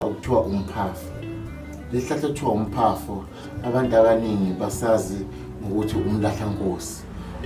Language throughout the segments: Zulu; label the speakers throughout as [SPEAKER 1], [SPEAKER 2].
[SPEAKER 1] okuthiwa umphafa lesihlahla okuthiwa umphafa abantu abaningi basazi ngokuthi umlahlankosi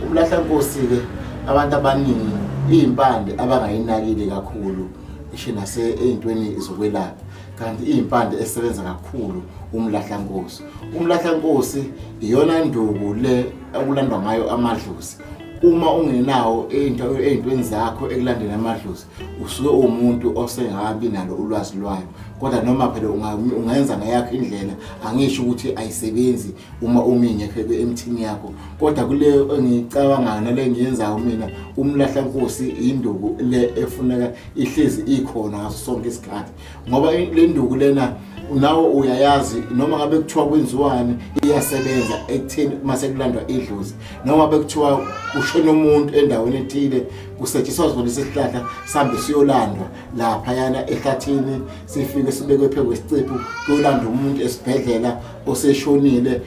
[SPEAKER 1] umlahlankosi-ke abantu abaningi iyimpande abangayinakile kakhulu ishe nase ey'ntweni zokwelapha kanti iyimpande esebenza kakhulu umlahlankosi umlahlankosi iyona nduku le okulandwa ngayo amadlozi uma ungenawo ey'ntweni zakho ekulandeni amadlozi usuke uwumuntu osengabi nalo ulwazi lwayo kodwa noma phela ungenza ngeyakho indlela angisho ukuthi ayisebenzi uma umingekho emthini yakho kodwa kule engiyicabangayo nale engiyenzayo mina umlahla nkosi induku le efuneka ihlezi ikhona ngaso sonke isikhathi ngoba le nduku lena nawe uyayazi noma ngabe kuthiwa kwenziwani iyasebenza ekutheni uma sekulandwa idlozi noma bekuthiwa kushona umuntu endaweni ethile kusetshenziswa zona isihlahla sihambe siyolandwa lapha yana ehlathini sifike sibekwe phezu kwesiciphu kuyolanda umuntu esibhedlela oseshonile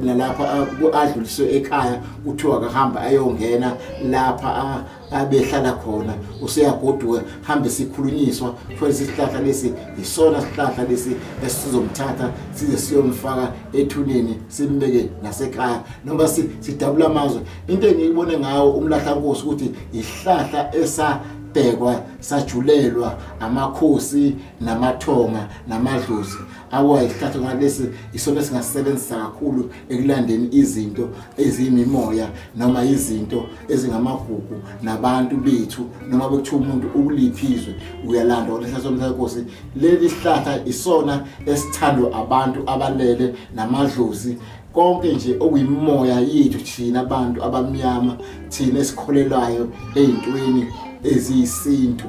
[SPEAKER 1] nalapha adluliswe ekhaya kuthiwa akahamba ayongena lapha abehlala khona useyagoduka hambe sikhulunyiswa futhi isihlahla lesi yisona sihlahla lesi esizomthatha size siyomfaka ethuneni simbeke nasekhaya noma sidabula amazwe into engiyibone ngawo umlahla nkosi ukuthi yihlahla esa sabhekwa sajulelwa amakhosi namathonga namadlozi awa isihlathi ngalesi isona singasebenzisa kakhulu ekulandeni izinto eziyimimoya noma izinto ezingamagugu nabantu bethu noma bekuthiwa umuntu ukuliphizwe uyalanda kwalesihlahla somthayenkosi leli sihlahla isona esithandwa abantu abalele namadlozi konke nje okuyimoya yethu thina abantu abamnyama thina esikholelwayo ey'ntweni eziyisintu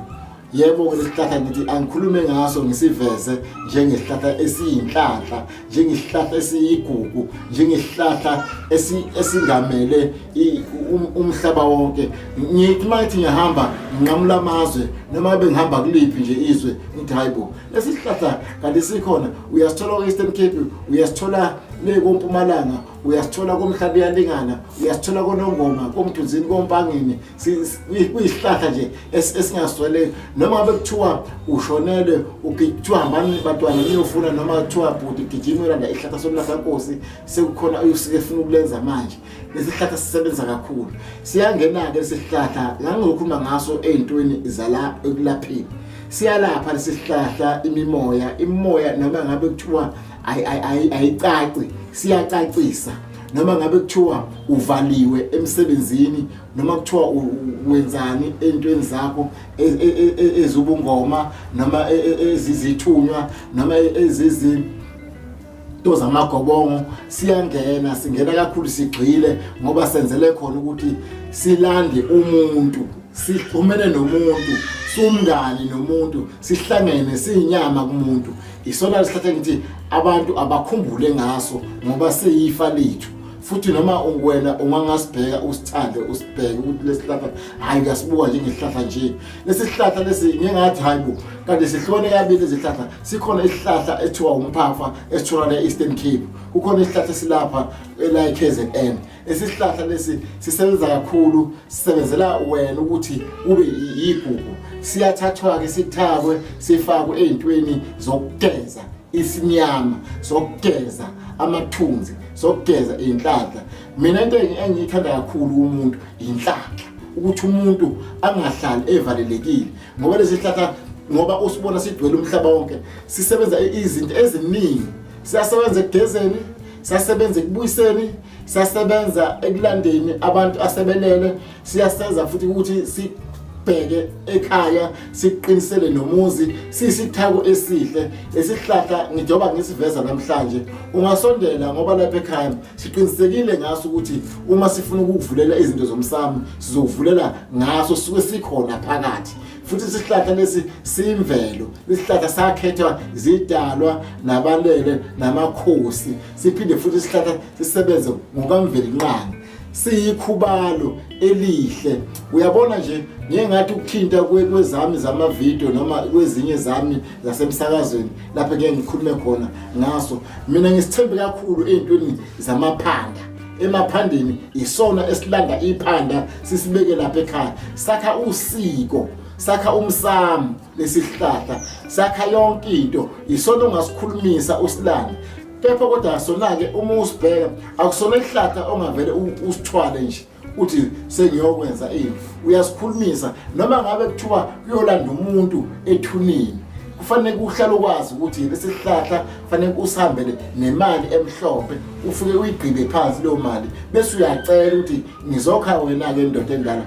[SPEAKER 1] yebo ke lesihlahla ngithi angikhulume ngaso ngisiveze njengesihlahla esiyinhlanhla njengesihlahla esiyigugu njengesihlahla esingamele um, umhlaba wonke ngithi uma ngithi ngihamba nginqamula amazwe noma bengihamba kuliphi nje izwe ngithi hayi bo lesi sihlahla kanti sikhona uyasithola ku-eastern cape uyasithola le kompumalanga uyasithola komhlaba iyalingana uyasithola konongoma komthunzini kompangeni kuyisihlahla nje esingaswele noma ngabe kuthiwa ushonelwe kuthiwa hambani bantwana niyofuna noma kuthiwa bhuti gijima ulanda ihlahla somlahla nkosi sekukhona efuna ukulenza manje lesi sihlahla sisebenza kakhulu siyangena-ke lesi sihlahla la ngizokhuluma ngaso ey'ntweni zala ekulapheni siyalapha lesi sihlahla imimoya imimoya noma ngabe kuthiwa ayicaci siyacacisa noma ngabe kuthiwa uvaliwe emsebenzini noma kuthiwa wenzani entweni zakho e, e, e, ezubungoma noma ezizithunywa noma ezizi to zamagobongo siyangena singena kakhulu sigxile ngoba senzele khona ukuthi silande umuntu sixhumene nomuntu sumngani nomuntu sihlangene siyinyama kumuntu isona lesithathe ngithi abantu abakhumbule ngaso ngoba seyifa lethu futhi noma wena uma ngasibheka usithande usibheke ukuthi lesihlahla hayi uyasibuka njengesihlahla nje lesihlahla lesi ngingathi hayi bo kanti sihlone kabili izihlahla sikhona isihlahla ethiwa umphafa esitholakala e-eastern cape kukhona isihlahla silapha ela-kzn esihlahla lesi sisebenza kakhulu sisebenzela wena ukuthi ube yigugu siyathathwa-ke sithakwe sifakwe ey'ntweni zokugeza isinyama zokugeza amathunzi sokugeza inhlanhla mina into engiyithanda kakhulu umuntu inhlanhla ukuthi umuntu angahlali evalelekile ngoba lesihlahla ngoba usibona sigcwele umhlaba wonke sisebenza izinto eziningi siyasebenza ekugezeni siyasebenza ekubuyiseni siyasebenza ekulandeni abantu asebelele siyasenza futhi ukuthi si sibheke ekhaya siqinisele nomuzi sisithako esihle esihlahla ngijoba ngisiveza namhlanje ungasondela ngoba lapha ekhaya siqinisekile ngaso ukuthi uma sifuna ukukuvulela izinto zomsamo sizokuvulela ngaso suke sikhona phakathi futhi isihlahla lesi simvelo isihlahla sakhethwa zidalwa nabalele namakhosi siphinde futhi isihlahla sisebenze ngokamveli nqanga siyikhubalo elihle uyabona nje ngeke ngathi ukuthinta kwezami zamavidiyo noma kwezinye zami zasemsakazweni lapho ngeke ngikhulume khona ngaso mina ngisithembe kakhulu ey'ntweni zamaphanda emaphandeni isona esilanda iphanda sisibeke lapha ekhaya sakha usiko sakha umsamo lesi sihlahla sakha yonke into yisona ongasikhulumisa usilande kepha kodwa asona-ke uma usibheka akusona isihlahla ongavele usithwale nje uthi sengiyokwenza ini uyasikhulumisa noma ngabe kuthiwa kuyolanda umuntu ethunini kufanele kuhlale ukwazi ukuthi lesi sihlahla kufanele usihambele nemali emhlophe ufike uyigqibe phansi leyo mali bese uyacela ukuthi ngizokha wena-ke ndoda endala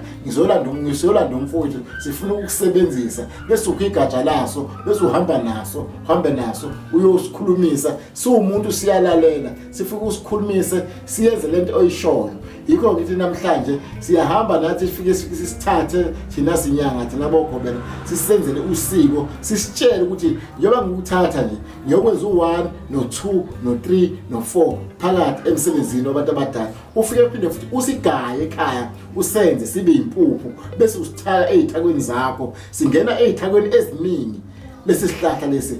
[SPEAKER 1] ngizolanda umfowethu sifuna ukusebenzisa bese ukho igatsha laso bese uhamba naso uhambe naso uyosikhulumisa siwumuntu siyalalela sifike usikhulumise siyenze le nto oyishoyo yikho ngithi namhlanje siyahamba nathi sifike sisithathe thina sinyanga thina bokhobela sisenzele usiko sisitshele ukuthi njengoba ngikuthatha nje ngiyokwenza u-one no-two no-three no-four phakathi emsebenzini wabantu abadala ufike uphinde futhi usigaye ekhaya usenze sibe impuphu bese usithaka ezithakweni zakho singena ezithakweni eziningi lesi sihlahla lesi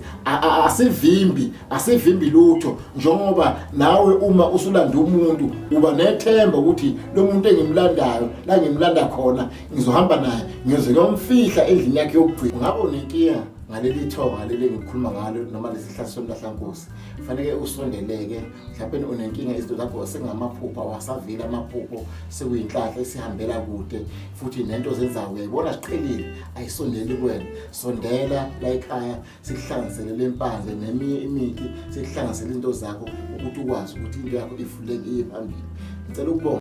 [SPEAKER 1] asivimbi asivimbi lutho njengoba nawe uma usulanda umuntu uba nethemba ukuthi lo muntu engimlandayo la ngimlanda khona ngizohamba naye ngiyoze ngiyomfihla endlini yakhe yokugcina ngabe unenkinga ngaleli thonga leli engikhuluma ngalo noma lesihlahla somlahlankosi faneke usondeleke mhlawumbe unenkinga izinto zakho sengamaphupho awasaveli amaphupho sekuyinhlahla esihambela kude futhi nento zenzayo uyayibona siqhelile ayisondeli kuwena sondela la ekhaya sikuhlanganisele le mpandle neminye imithi sikuhlanganisele into zakho ukuthi ukwazi ukuthi into yakho ifulekile phambili ngicela ukubonga